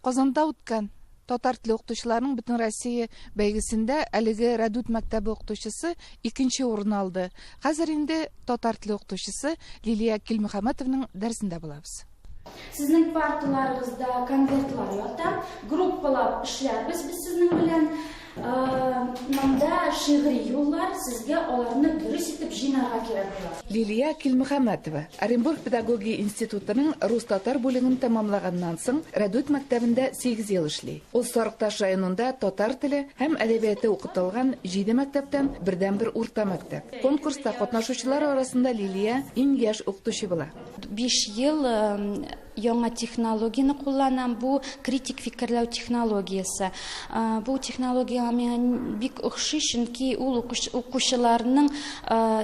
Казанда үткән татар теле укытучыларының бөтенроссия бәйгесендә әлеге Рәдүт мәктәбе укытучысы икенче урын алды. Хәзер инде татар теле укытучысы Лилия Килмөхәммәтовның дәресендә булабыз. Сезнең парталарыгызда конвертлар ята, группалап эшләрбез без сезнең белән. Монда шигъри юллар, сезгә аларны дөрес итеп җыйнарга кирәк була. Лилия Килмөхәммәтова Оренбург педагогия институтының рус-татар бүлеген тәмамлаганнан соң, Рәдүт мәктәбендә сигез ел эшли. Ул Сарыкташ районында татар теле һәм әдәбияты укытылган җиде мәктәптән бердәнбер урта мәктәп. Конкурста катнашучылар арасында Лилия иң яшь укытучы була. Биш ел Яңа технологияне кулланам, бу критик фикерләү технологиясе. Бу технологиягә миңа бик охшый, чөнки ул укучыларның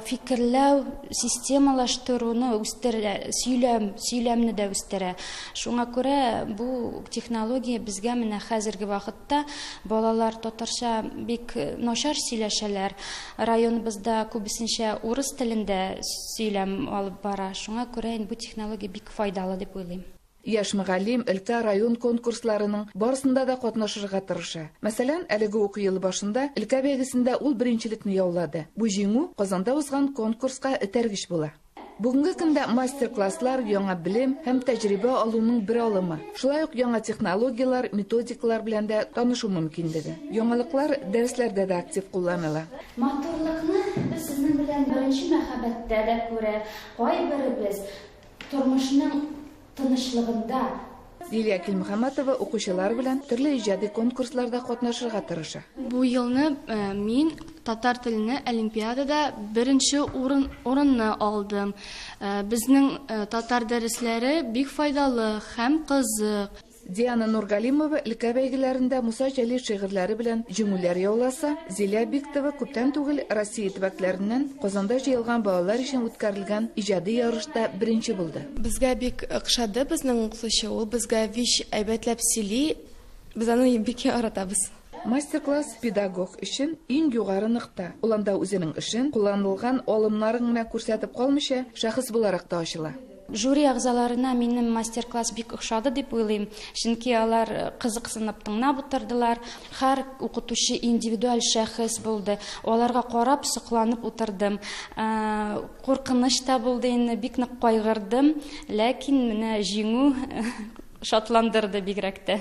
фикерләү системалаштыруны үстерә, сөйләм, сөйләмне дә үстерә. Шуңа күрә бу технология безгә менә хәзерге вакытта балалар татарча бик начар сөйләшәләр. Районыбызда күбесенчә урыс телендә сөйләм алып бара. Шуңа күрә инде бу технология бик файдалы дип уйлыйм. Яшь мөгаллим өлкә, район конкурсларының барысында да катнашырга тырыша. Мәсәлән, әлеге уку елы башында өлкә бәйгесендә ул беренчелекне яулады. Бу җиңү Казанда узган конкурска этәргеч була. Бүгенге көндә мастер-класслар, яңа белем һәм тәҗрибә алуның бер алымы. Шулай ук яңа технологияләр, методикалар белән дә танышу мөмкинлеге. Яңалыклар дәресләрдә дә актив кулланыла. Матурлыкны без сезнең белән беренче мәхәббәттә дә күрә, кайберебез Тормышның тынычлыгында. Лилия Килмөхәммәтова укучылар белән төрле иҗади конкурсларда катнашырга тырыша. Бу елны мин татар телене олимпиадада беренче урын урынны алдым. Безнең татар дәресләре бик файдалы һәм кызык. Диана Нургалимова өлкә бәйгеләрендә Муса Җәлил шигырьләре белән җиңүләр яуласа, Зилә Биктова күптән түгел Россия төбәкләреннән Казанда җыелган балалар өчен үткәрелгән иҗади ярышта беренче булды. Безгә бик охшады безнең укытучы, ул безгә вич әйбәтләп сөйли, без аны бик яратабыз. Мастер-класс педагог өчен иң югары нокта, ул анда үзенең эшен, кулланылган алымнарын гына күрсәтеп калмыйча, шәхес буларак та ачыла. Жюри әгъзаларына минем мастер-класс бик охшады дип уйлыйм, чөнки алар кызыксынып тыңнап утырдылар. Хәр укытучы индивидуаль шәхес булды, аларга карап сокланып утырдым. Куркыныч та булды инде, бик нык кайгырдым, ләкин менә җиңү шатландырды бигрәк тә.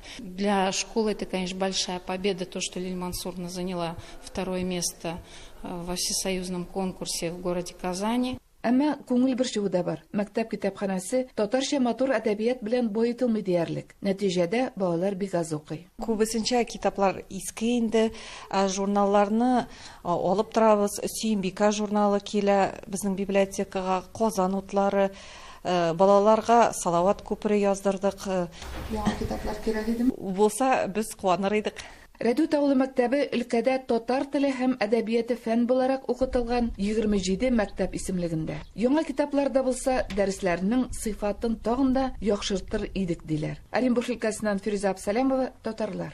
Для школы это, конечно, большая победа, то, что Лиль Мансурна заняла второе место э, во всесоюзном конкурсе в городе Казани. Әмма күңел борчуы да бар. Мәктәп китапханәсе татарча матур әдәбият белән боетылмый диярлек. Нәтиҗәдә балалар бик аз укый. Күбесенчә китаплар иске инде, журналларны алып торабыз. Сөембикә журналы килә безнең библиотекага, Казан утлары, Балаларга Салават күпере яздырдык. Яңа китаплар кирәк идеме? Булса, без куаныр идек. Рәдүт авылы мәктәбе өлкәдә татар теле һәм әдәбияте фән буларак укытылган 27 мәктәп исемлегендә. Яңа китаплар да булса, дәресләрнең сыйфатын тагын да яхшыртыр идек, диләр. Оренбург өлкәсеннән Фирүзә Абсалямова, Татарлар.